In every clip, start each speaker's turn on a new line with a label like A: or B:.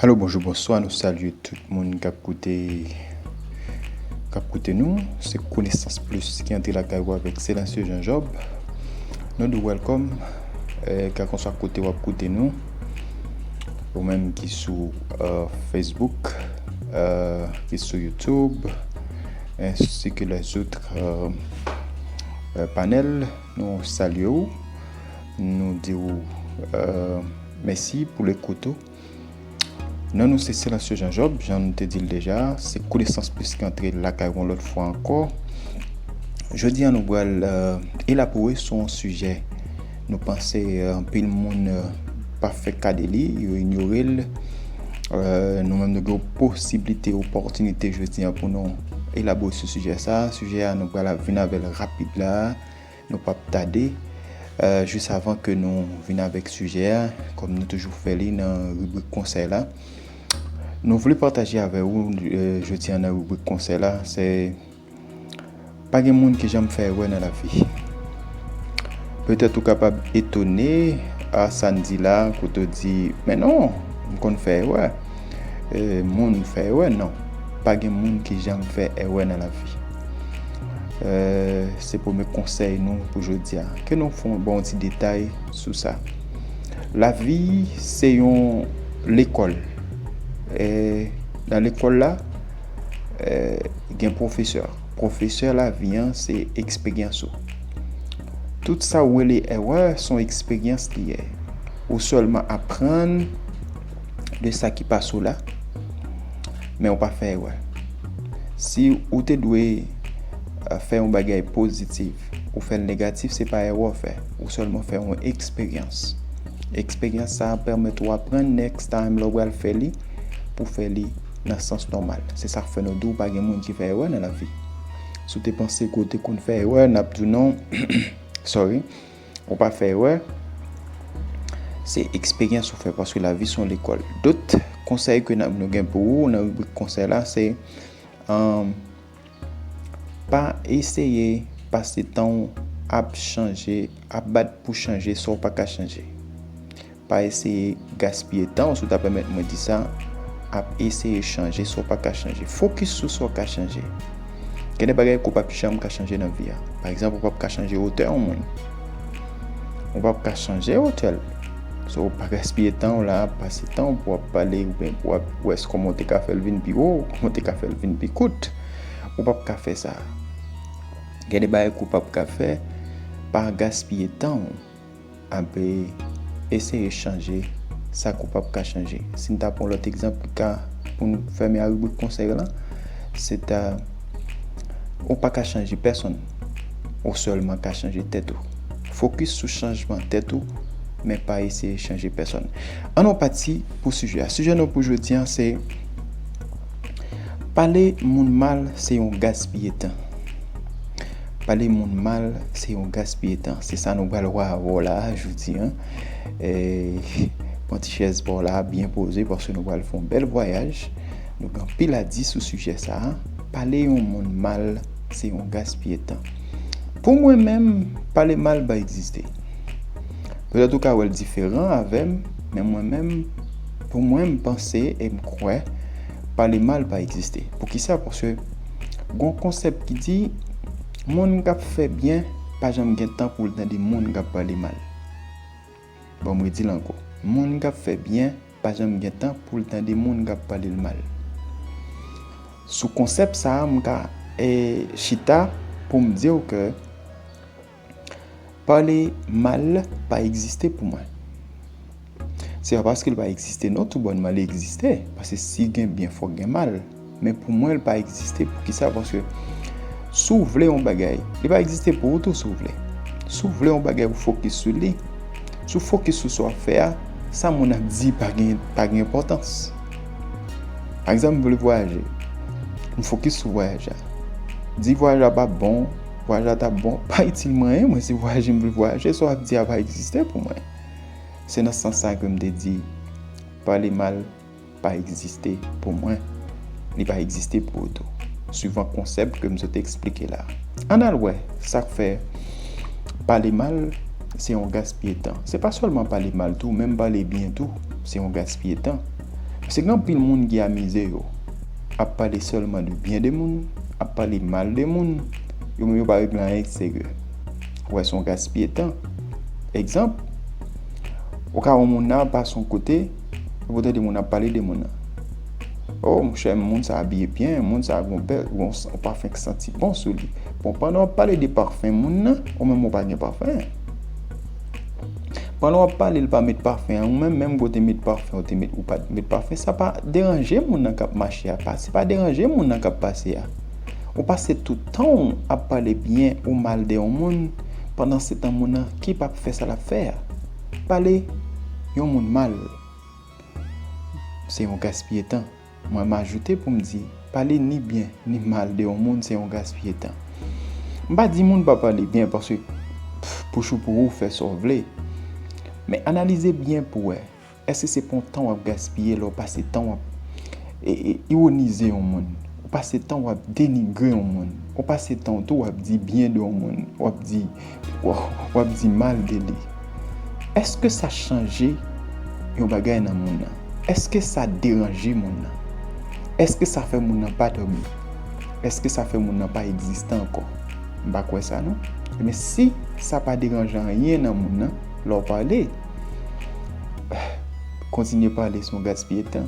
A: Alo bonjou bonswa nou salye tout moun kap koute kap koute nou se konesans plis ki antre lakay ou avèk Selassie Jean Job nou di w wèlkòm kèlkanswa kote wap koute nou ou menm ki sou Facebook ki sou Youtube ensi ke lèzoutre panèl nou salye ou Nou di ou mèsi pou lekout ou. Non nou se Silencieux Jean Job, jan nou te di l deja, se Konesans Plis ki antre lakay ou yon lòt fwa ankò. Jodi a nou pral elabore sou yon sijè nou panse anpil moun pa fè ka de li, yo inyore l. Nou menm nou gen yon posiblite, yon opòtinite jodi a pou nou elabore sou sijè sa. Sijè a nou pral vin avè l rapid la a. Nou pap tade, jis avan ke nou vin avèk sijè a, kòm nou toujou fè li nan ribrik konsèy la, nou vle pataje avè ou jodi an nan ribrik konsèy la, se pa gen moun ki janm fè erè nan lavi. Petèt ou kapab etone a sa n di la, kote w di, men non, m konn fè erè, moun fè erè, non, pa gen moun ki janm fè erè nan lavi. Se premye konsèy nou pou jodi a. Ke nou fon bon ti detay sou sa. La vi se yon lekòl. E nan lekòl la, gen profesè. Profesè la vi an se eksperyans ou. Tout sa ou wele èrè son eksperyans li ye. Ou sèlman aprann. de sa ki pa sou la, men ou pa fè erè. Si ou te dwe euh, fè yon bagay pozitif, ou fè l negatif, se pa erè ou fè. Ou sèlman fè yon eksperyans. Eksperyans sa a pèmèt ou aprann next time lè ou pral fè li, pou fè li nan sans nòmal. Se sa k fè nou di ou pa gen moun ki fè erè nan lavi. Si w te panse ke w te konn fè erè, n ap di w non, sorry, Ou pa fè erè, se eksperyans ou fè paske lavi son lekòl. Dot konsèy ke nan nou gen pou ou nan ribrik konsèy la se um, pa eseye pase tan ou ap chanje, ap bat pou chanje sa ou pa ka chanje. Pa eseye gaspiye tan w, si w ta pèmèt mwen di sa, ap eseye chanje sa w pa ka chanje. Fokis sou sa w ka chanje. Gen de bagay ke w pap janm ka chanje nan vi a. Pa egzanp, ou pap ka chanje wotè yon moun. Ou pap ka chanje wotè l. So, pa gaspiye tan w la ap pase tan w pou w ap pale oubyen pou w ap wè kòman w te ka fè l vin pi wo, kòman w te ka fè l vin pi kout. Ou pap ka fè sa. Gen de bagay ke w pap ka fè, pa gaspiye tan w. Ape eseye chanje sa ke w pap ka chanje. Si n ta pran yon lòt egzanp ki ka pou n fèmen a ribrik konsèy lan, se ta ou pa ka chanje pèsonn, ou sèlman ka chanje tèt ou. Fokis sou chanjman tèt ou, men pa eseye chanje pèsonn. An nou pati pou sijè a. Sijè nou pou jodi an se Pale moun mal se yon gaspiye tan. Pale moun mal se yon gaspiye tan se sa nou pral wè avè w la a jodi an. Pran ti chèz pa w la a byen poze paske nou pral fè yon bèl vwayaj. Nou gen anpil a di sou sijè sa a. Pale yon moun mal se yon gaspiye tan. Pou mwen menm, pale mal pa egziste. Petèt ou ka wè l diferan avè m, men mwen menm, pou mwen m panse e m kwè pale mal pa egziste. Poukisa? Paske. Gon konsèp ki di, moun k ap fè byen pa janm gen tan pou l tande moun k ap pale mal. Bon m redi l ankò, moun k ap fè byen pa janm gen tan pou l tande moun k ap pale l mal. Sou konsèp sa a m ka chita pou m di w ke Pale mal pa egziste pou mwen. Se pa paske l pa egziste non tou bònman li egziste. Paske si gen byen fòk gen mal. Men pou mwen l pa egziste pou kisa paske si w vle yon bagay li pa egziste pou ou tou si w vle. Si w vle yon bagay ou fokis sou li. Si w fokis sou sa w ap fè a, sa moun ap di pa gen enpòtans. Pa egzanp m vle vwayaje. M fokis sou vwayaj la. Di vwayaj la pa bon. Vwayaj la tap bon, pa itil mwen anyen, mwen se vwayaje m vle vwayaje, sa w ap di a pa egziste pou mwen. Se nan sans sa ke m te di, pale mal pa egziste pou mwen, li pa egziste pou ou tou. Suivan konsèp ke m sot eksplike la. Ann al wè sa k fè pale mal se yon gaspiye tan. Se pa sèlman pale mal tou, menm pale byen tou se yon gaspiye tan. Paske gen anpil moun ki amize yo. ap pale sèlman de byen de moun, ap pale mal de moun, yo menm yo pa regle anyen ki serye. Ou wè se yon gaspiye tan. Egzanp, ou ka wè yon moun nan ap pase yon kote, epi ou tande moun ap pale de moun nan. O, monchè, moun sa a abiye byen, moun sa a gen yon pafen ki santi bon sou li. Bon, pandan w ap pale de pafen moun nan, ou menm ou pa gen pafen. Pandan wap pale li pa met pafen an ou menm menm ke w te met pafen ou te met ou pat met pafen sa pa deranje moun nan kap mache a pa se pa deranje moun nan kap pase a ou pase tout tan w ap pale byen ou mal de yon moun pandan se tan moun nan ki pap fè sa lap fè a pale yon moun mal se yon gaspiye tan. Mwen majoute pou m di, pale ni byen ni mal de yon moun se yon gaspiye tan. M pa di moun pa pale byen paske pou chou pou ou fè sa w vle. Men analize byen pou wè, èske se pa yon tan w ap gaspiye lè w pase tan w ap iwonize yon moun, ou pase tan w ap denigre yon moun, ou pase tan w tou w ap di byen de yon moun, w ap di. Waww wap di mal de li. Eske sa chanje yon bagay nan moun nan? Eske sa deranje moun nan? Eske sa fè moun nan pa dòmi? Eske sa fè moun nan pa egziste ankò? M pa kwè sa non. Ebyen si sa pa deranje anyen nan moun nan lè w pale, kontinye pale se yon gaspiye tan.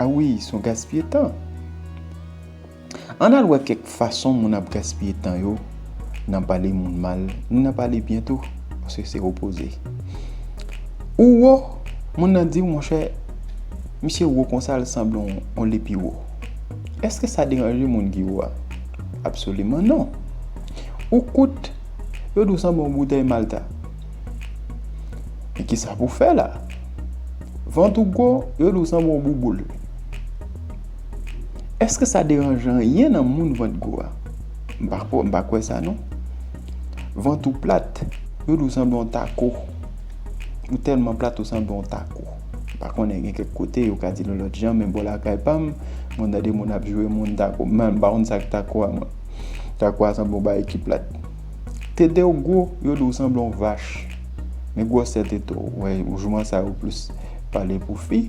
A: A wi se yon gaspiye tan. Ann al wè kèk fason moun ap gaspiye tan yo nan pale moun mal ni nan pale byen tou, paske se opoze. Ou wo, moun nan di w, monchè, misye wo konsa l sanble yon lepiwo. Èske sa deranje moun ki wo a? Absoliman non. Ou kout, yo di w sanble yon boutèy malta. Men kisa pou w fè la? Vant ou gwo, yo di w sanble yon bouboul. Eske sa deranje anyen nan moun vant gwo a? M pa kwè sa non. Vant ou plat, yo di w sanble yon tako. Ou tèlman plat ou sanble yon tako. M pa konnen gen kèk kote yo ka di l yon lòt jan men bò lakay pa m, mwen tande moun ap jwe moun tako. M pa konn sa k tako a mwen. Tako a sanble yon bagay ki plat. Tete w gwo, yo di w sanble yon vach. Men gwosè tete w, wè jouman sa yo plis pale pou fi.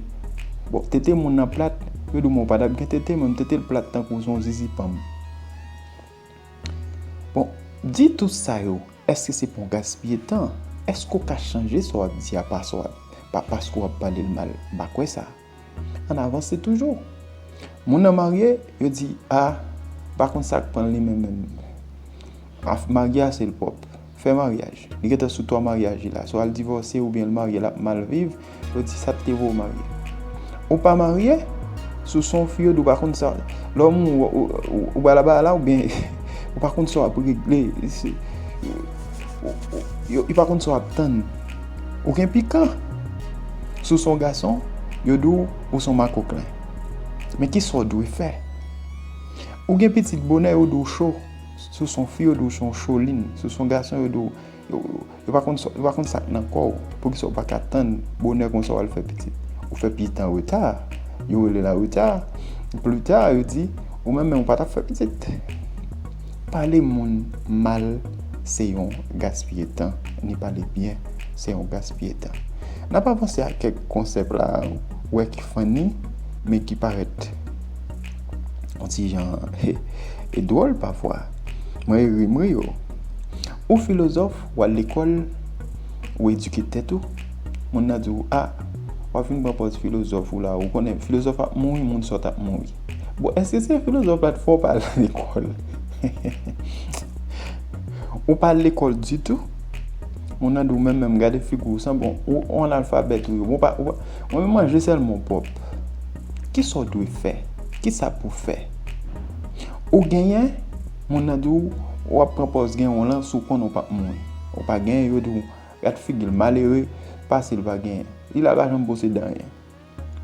A: Bon, tete moun nan plat, yo di mwen pa tap gen tete men tete l plat tankou son zizi panm. Bon, di tout sa yo, eske se pon gaspiye tan? Eske w ka chanje sa wap di a pa sa wap, pa paske wap pale l mal? M pa kwè sa. An avanse toujou. Moun nan marye, yo di, a, pa konn sak pran li menm menm. Marye a se l pwòp. fè maryaj li gentan sou 3 maryaj li la swa l divòse oubyen l marye lap mal viv yo di sat te vow marye ou pa marye sou son fiyèd ou pa konn sa lè w moun ou bala bala oubyen ou pa konn sa wap regle yo pa konn sa wap tann ou gen pikan sou son gason yo di w ou son makoklen men kisa w dwe fè ou gen pitit bonè yo di w cho. Si w se yon fi yo di w se yon cholin, si w se yon gason yo di w yo pa konn sa k nan kò w, poukisa w pa ka tann bonè konsa w al fè pitit. Ou fè pitit an reta, yo rele l an reta, plita yo di ou menm menm ou pa t ap fè pitit. Pale moun mal se yon gaspiye tan, ni pale byen se yon gaspiye tan. N ap avanse ak kèk konsèp la a ou wè ki fanni men ki parèt. Yon ti jan e dwòl pafwa. Mwen e ri m ri o. Ou filozòf, w al lekòl, ou edike tèt ou. Moun nan di w, a, w ap vin pran pòz filozòf ou la, ou konnen filozòf ap mouri, moun sòt ap mouri. Bon, èske se filozòf la t fè w pa al lekòl? Ou pa al lekòl ditou, moun nan di w menm menm gade figi w san bon, ou analfabèt ou ye. Mwen menm manje sèl mwen pwòp. Kisa w dwe fè? Kisa pou fè? Ou genyen, moun nan di w ou ap pran pòz genyen w lan si w konnen ou pap mouri. Ou pa genyen, yo di w gad figi l malere, pase l pa genyen. Li la pa janm posede anyen.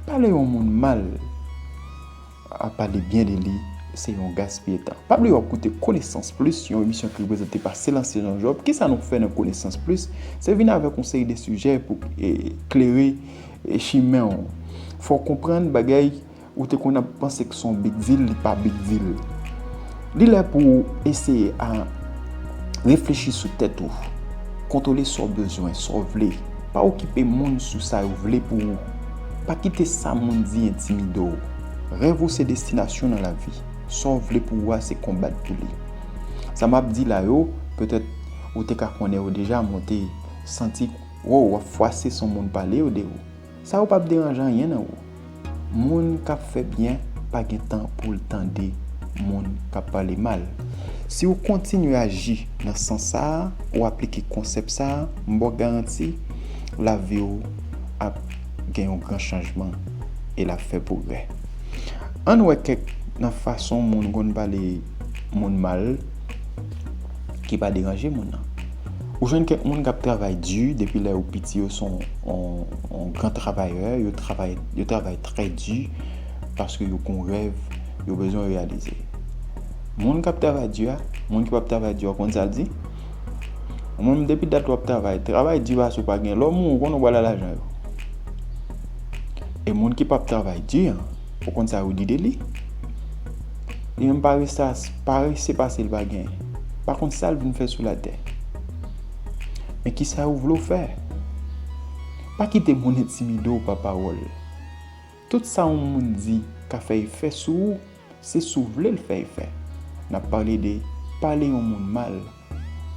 A: Pale yon moun mal. Ap pale byen de li, se yon gaspiye tan. Pa bliye wap koute Konesans Plis, yon emisyon ki reprezante pa Selansye Jean Job. Kisa nou fè nan Konesans Plis? Se vin avèk yon seri de sijè pou klere chimen w. Fè w konprann bagay ou te konn ap panse ki son big deal, li pa big deal. Li lè pou ou eseye a reflechi sou tèt ou, kontwole sa w bezwen, sa w vle. Pa okipe moun sou sa yo vle pou ou. Pa kite sa moun di entimide w. Rèv ou se destinasyon nan lavi. Sa w vle pou ou a se konbat pou li. Sa m ap di la yo, petèt ou te ka konnen yo deja men w te santi w ap fwase son moun pale yo de ou. Sa yo pap deranje anyen nan ou. Moun kap fè byen pa gen tan pou l tande moun kap pale mal. Si ou kontinye aji nan sans sa a, ou aplike konsèp sa a, m ba w garanti lavi ou ap gen yon gran chanjman e l ap fè pwogrè. Ann wè kèk nan fason moun konn pale moun mal ki pa deranje moun nan. Ou jwenn kèk moun kap travay di depi lè yo piti yo son yon gran travayè, yo travay yo travay trè di paske yo gon rèv yo bezwen reyalize. Moun kap travay di a, moun ki pap travay di a ou konn sal di? Ou menm depi dat wap travay, travay di a si ou pa gen lè ou mouri ou konnen ou pral al lajan yo. E moun ki pap travay di an. Ou konn sa yo di de li? Li menm paresas, parese pase l pa gen. Pa konn sa l vin fè sou latè. Men ki sa yo vle w fè? Pa kite moun entimide w pa pawòl. Tout sa yon moun di ka fè efè sou ou, se si w vle l fè efè. N ap pale de pale yon moun mal,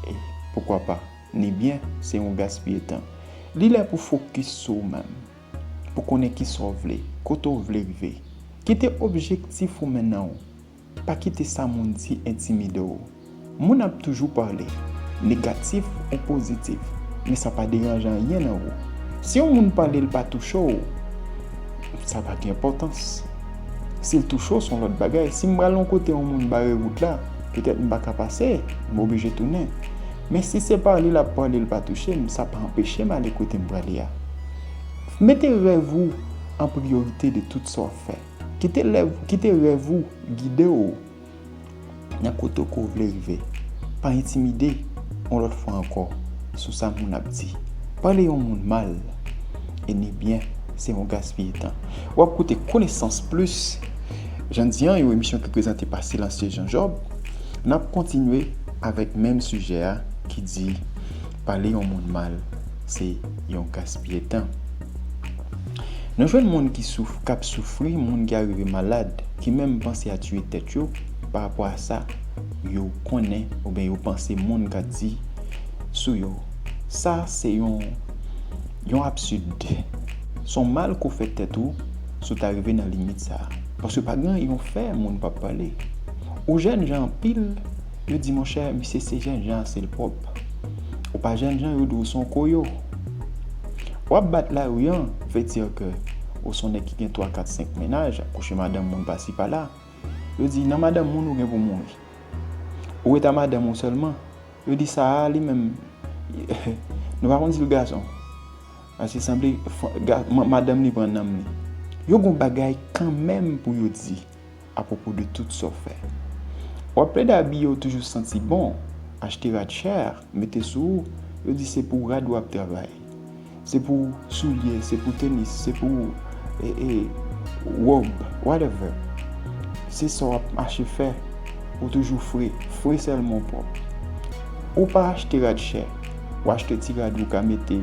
A: e poukwa pa, ni byen, se yon gaspiye tan. Li lè pou w fokis sou ou menm. pou konnen kisa w vle, kote w vle rive. Kite objektif ou mennen w, pa kite sa moun di entimide w. Moun ap toujou pale, negatif ou pozitif, men sa pa deranje anyen nan ou. Si yon moun pale l pa touche w, sa pa gen enpòtans. Si l touche w, s on lòt bagay. Si m pral yon kote yon moun bare wout la, petèt m pa ka pase, m oblije tounen. Men si se pale l ap pale l pa touche m, sa pa anpeche m ale kote m prale a. Mete rèv ou an priyorite de tout sa w fè. Kite rèv ou gide w nan kote ke w vle rive. Pa entimide, yon lòt fwa ankò, sou sa moun ap di. Pale yon moun mal e ni byen se yon gaspiye tan. Ou ap koute Konesans Plis, jan n di an, yon emisyon ki prezante pa Silencieux Jean Job. N ap kontinye avèk menm sijè a ki di. Pale yon moun mal se yon gaspiye tan. Nou jwenn moun ki souf kap soufri, moun ki arive malad, ki menm panse a tiye tèt yo pa rapò a sa yo konnen oubyen yo panse moun ka di sou yo. Sa se yon yon absid. Son mal ke w fè tèt ou si w ta rive nan limit sa. Paske pa gen yon fè moun pap pale. Ou jèn jan anpil. Yo di monchè misye se jènjan se l pwòp. Ou pa jènjan yo di w s on koyo. W ap bat lari an vle di ke ou s on nèg ki gen twa kat senk mennaj, ap kouche madanm moun pasi pala. Yo di nan madanm moun ou gen pou mouri. Ou ret a madanm ou sèlman. Yo di sa a li menm nou pa konn di l gason. Paske sanble madanm li pran nanm li. Yo gen w bagay kanmenm pou yo di. Apwopo de tout sa w fè. W ap plede abiye w toujou santi bon, achte rad chè, mete sou ou, yo di se pou rad w ap travay, se pou soulye, se pou tenis, se pou wòb, whatever. Se sa w ap mache fè, ou toujou fre, fre sèlman w pwòp. Ou pa achte rad chè, w achte ti rad ou ka mete,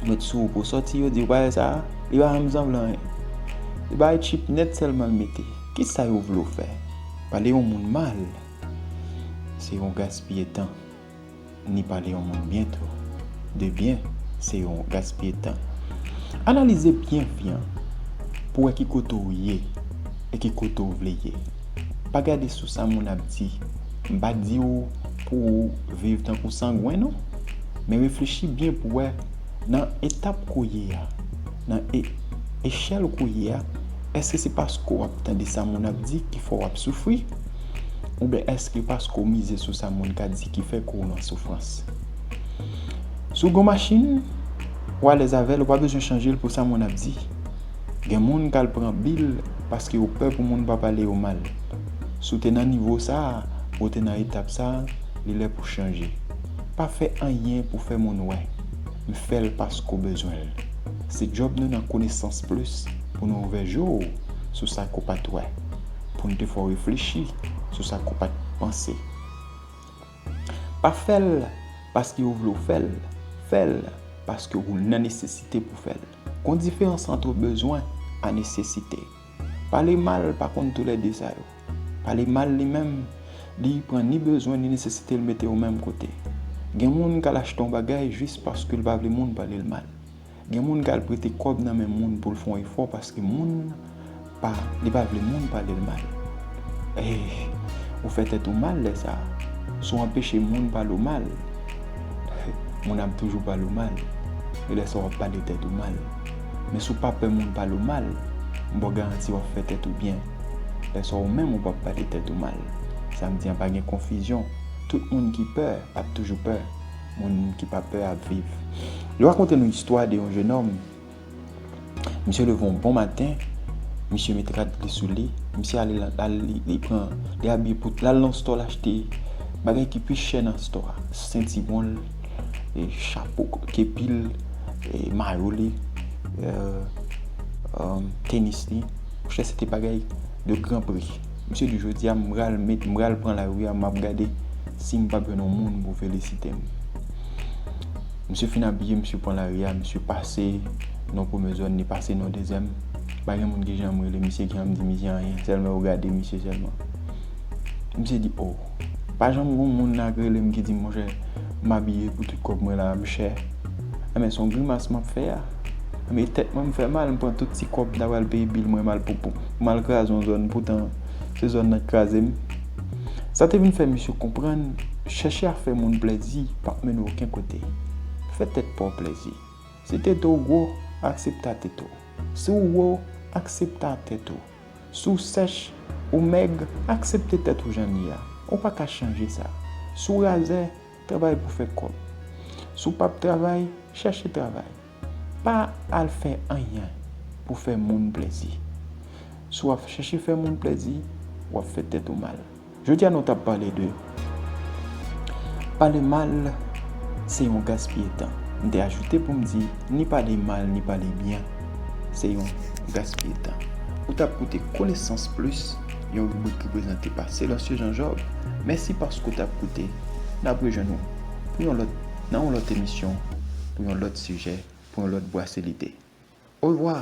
A: met sou ou pou w sòti, yo di w pa wè sa a? Li pa menm sanble anyen. Se bagay tchip nèt sèlman l mete. Kisa yo vle w fè? Pale yon moun mal se yon gaspiye tan. Ni pale yon moun byen tou. De byen, se yon gaspiye tan. Analize byen byen pou w wè ki kote w ye e ki kote w vle ye. Pa gade sou sa moun ap di. M pa di w pou w viv tankou sangwen non. Men reflechi byen pou w wè. Nan etap kounye a, nan e, echèl kounye a, èske se paske w ap tande sa moun ap di ki fè w ap soufri? Oubyen èske e paske w mize sou sa moun ka di ki fè ke w nan soufrans? Si w gen yon machin, w alèz avè l, ou pa bezwen chanje l pou sa moun ap di. Gen moun k al pran bil paske yo pè pou moun pa pale yo mal. Si w te nan nivo sa a, ou te nan etap sa a, li lè pou w chanje. Pa fè anyen pou fè moun wè, m fè l paske w bezwen l. Se djòb nou nan Konesans Plis pou nou ouvè je w sou sa ke w pa t wè, pou n te fè w reflechi sou sa ke w pa t panse. Pa fè l paske yo vle w fè l, fè l paske ou nan nesesite pou w fè l. Gon diferans antre bezwen a nesesite. Pale mal pa konn tou lè 2 sa yo. Pale mal li menm, li pran ni bezwen ni nesesite l mete yo menm kote. Gen moun k al achte yon bagay jis paske l pa vle moun pale l mal. Gen moun k al prete kòb nan men moun pou l fè yon efò paske moun pa li pa vle moun pale l mal. Eeh ou fè tèt ou mal lè sa. Si w anpeche moun pale w mal, moun ap toujou pale w mal. E lè sa w ap pale tèt ou mal. Men si w pa pè moun pale w mal, m ba w garanti w ap fè tèt ou byen. Lè sa a ou menm ou p ap pale tèt ou mal. Sa m di an pa gen konfizyon, tout moun ki pè ap toujou pè, moun ki pa pè ap viv. Yo rakonte nou istwa de yon jenòm, misye leve yon bon maten, misye met rad li sou li, misye ale nan, li pran, li abiye pou l al nan stò l achte bagay ki pi chè nan stò a, sentiwon l, chapo kepil, mayo li, tenis li. Monchè se te bagay de gran pri. Misye di jodi a m pral met, m pral pran lari a m ap gade si m pap jwenn yon moun pou felisite m. Misye fin abiye, misye pran lari a, misye pase nan yon premye zòn, li pase nan yon dezyèm. Pa gen moun ki janm rele misye, ki janm di misye anyen. Sèlman yo gade misye sèlman. Misye di o! Pa janm gon moun la k relem ki dim monchè m abiye pou tout kòb mwen la m chè Anben son grimas map fè a Anben tèt mwen m fè mal m pran tout ti kòb m ta pral peye bil mwen mal pou pou m al kraze yon zòn poutan se zòn nan k krazem Sa te vin fè misye konprann chèche a fè moun plèzi pap mennen w oken kote Fè tèt pa w plèzi Si tete w gwo aksepta tete w Si w wo aksepta tèt ou. Si w sèch, ou mèg, aksepte tèt ou jan l ye a. Ou pa ka chanje sa. Si w razè, travay pou fè kòb. Si w pap travay, chèche travay. Pa al fè anyen pou fè moun plèzi. Si w ap chèche fè moun plèzi, w ap fè tèt ou mal. Jodi a nou tap pale de Pale mal se yon gaspiye tan. M te ajoute pou m di ni pale mal ni pale byen se yon gaspiye tan. Ou tap koute Konesans Plis, yon ribrik ki prezante pa Selancieux Jean Job. Mèsi paske ou tap koute. Nap rejwenn ou pou yon lòt nan yon lòt emisyon, pou yon lòt sijè, pou yon lòt bwase lide. Orevwa!